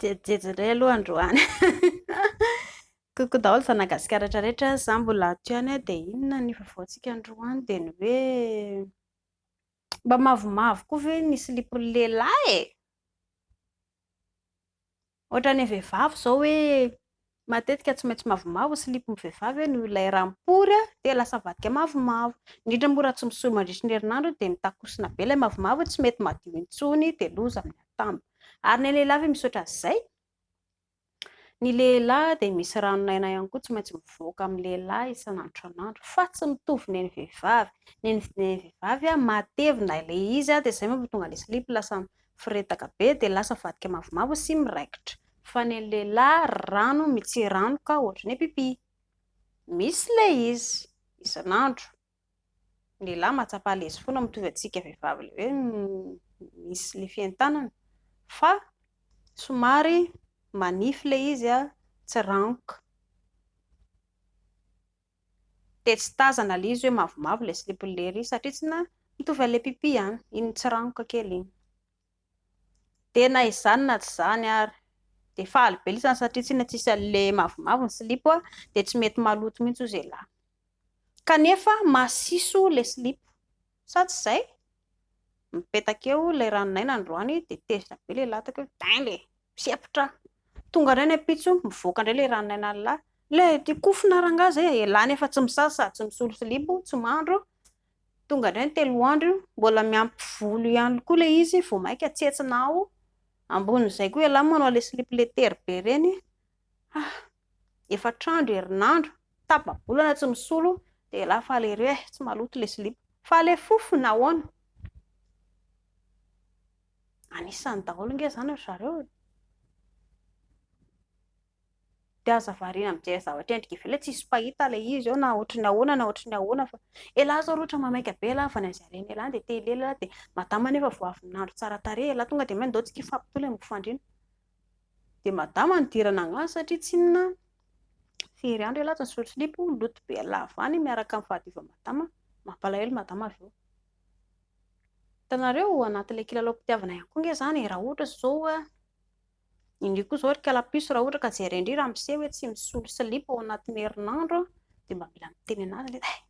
jerijery indray aloha androany koko daholo fa nagasikara rehetrarehetra za mbola ato ihany hoe dia inona ny vaovaontsika androany dia ny hoe mba mavomavo koa ve ny silipon'ny lehilahy e Ohatra ny vehivavy izao hoe matetika tsy maintsy mavomavo ny silipon'ny vehivavy hoe noho ilay rà mipory dia lasa avadika mavomavo. Indrindra moa raha tsy misoa mandritry ny herinandro dia mitakosona be ilay mavomavo tsy mety madio intsony dia loza amin'ny atambo. Ary ny lehilahy ve misaotra an'izay? Ny lehilahy dia misy ranon'aina ihany koa tsy maintsy mivoaka amin'ny lehilahy isan'andro isan'andro fa tsy mitovy ny an'ny vehivavy. Ny an'ny vehivavy matevina ilay izy dia izay mahatonga ilay silipo lasa Firedaka be dia lasa vadika mavomavo sy miraikitra. Fa ny an'ny lehilahy rano mitsiranoka ohatran'ny pipi. Misy ilay izy isan'andro. Ny lehilahy mahatsapa alezy foana mitovy antsika vehivavy ilay hoe misy ilay fientanana fa somary manify ilay izy, tsiranoka. Dia tsy tazana le izy hoe mavomavo le slipiny lery satria tsy na mitovy an'le pipi an, iny tsiranoka kely iny. Dia na izany na tsy izany ary dia faly be le izy satria tsy na tsisy an'le mavomavo ny silipo an, dia tsy mety maloto mihitsy hoy ze lahy. Kanefa masiso le silipo. Sa tsy izay? Mipetaka eo ilay ranon'aina androany dia tezitra be ilay lataka eo, dingue e! Mpisepotra! Tonga indray ny ampitso, mivoaka indray ilay ranon'ainan'ny lahy. Ilay ity kofona rangahy izay e! Elah nefa tsy misasa sady tsy misolo silipo, tsy mandro. Tonga indray ny telo andro io, mbola miampy volo ihany koa ilay izy vao mainka tsentsina ao. Ambonin'izay koa elah manao ilay silipo letery be ireny. Ah! efatra andro, herinandro, tapa-bolana tsy misolo dia elah fa le re eh, tsy maloto le silipo. Fa le fofona ahoana? Anisany daholo nge zany ry zareo e! Dia aza variana mijery zavatra endrika ivelany hoe tsisy mpahita le izy eo na ohatry ny ahoana na ohatry ny ahoana fa elah zao ry ohatra maimaika be elah vao naiza reny elah dia te hilely elah dia madama nefa vao avy ny nandro tsara tarehy elah tonga dia main-doha tsy kifapo toa le mofandriana. Dia madama nidirana angano satria tsinona fery andro elah tsy nisolo slip oh, loto be lava any miaraka amin'ny fahadiovan'i madama, mampalahelo madama avy eo. Hitanareo anatin'ilay kilalaom-pitiavana ihany koa ange izany e, raha ohatra izao hoe indry koa izao ry kala puce raha ohatra ka jereny indry raha miseho hoe tsy misolo slip ao anatin'ny herinandro dia mba mila miteny an'azy ilay izy eh!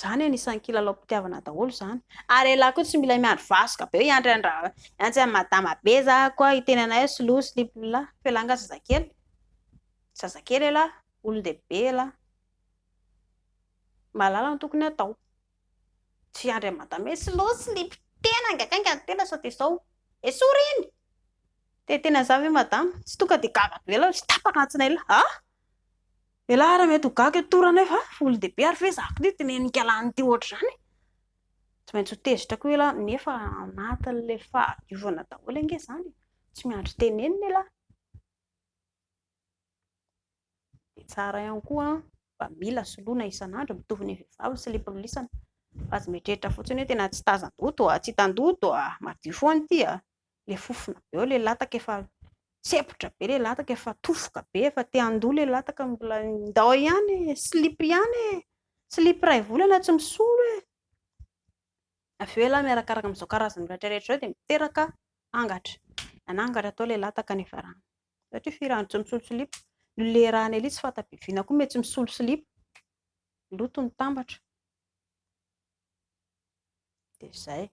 Zany anisany kilalaom-pitiavana daholo zany. Ary elah koa tsy milay miandry vasoka be hiandry an ra hiantsy an madama be za koa hiteny anay slow slip lah fa elah nga zazakely zazakely elah olondehibe elah mahalala ny tokony atao tsy hiandry an madama hoe slow slip tena nga kay nga ny tena sao de sao esory iny te tena za ve madama tsy tonga de gaga be lah tsy tapaka antsinay lah ah Elah ary mety ho gaga eto toa ranay fa olon-dehibe ary ve za koa dinenin-kialana ity ohatr'izany e! Tsy maintsy ho tezitra koa elah nefa anatin'ilay fahadiovana daholo ange izany e! Tsy miandry tenenina elah. Dia tsara ihany koa mba mila soloina isan'andro mitovy ny vehivavy ny silipo ny lisany fa aza mieritreritra fotsiny hoe tena tsy tazan-doha toa tsy hitan-doha toa madio foana ity a! le fofona be eo le lataka efa tsepotra be le lataka efa tofoka be efa te handoa le lataka mbola ndao ihany e slip ihany e slip iray volana tsy misolo e avy eo elah miarakaraka amin'izao karazana rehetra rehetra izao dia miteraka angatra nanangatra tao le lataka ny varahana satria firano tsy misolo slip ny lerany elia tsy fanta-bibiana koa mety tsy misolo slip loto ny tambatra Dia izay.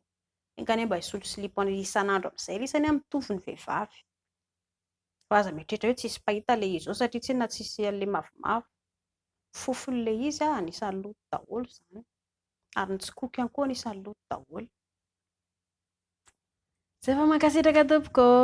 Enga anie mba hisotro slip isan'andro amin'izay ilay izy anie mitovy ny vehivavy. Fa aza mieritreritra hoe tsisy mpahita ilay izy ao satria tsinona tsisy an'ilay mavomavo. Ny fofon'ilay izy anisan'ny loto daholo izany. Ary ny tsikoko ihany koa anisan'ny loto daholo. Zay fa mankasitraka tompoko ô.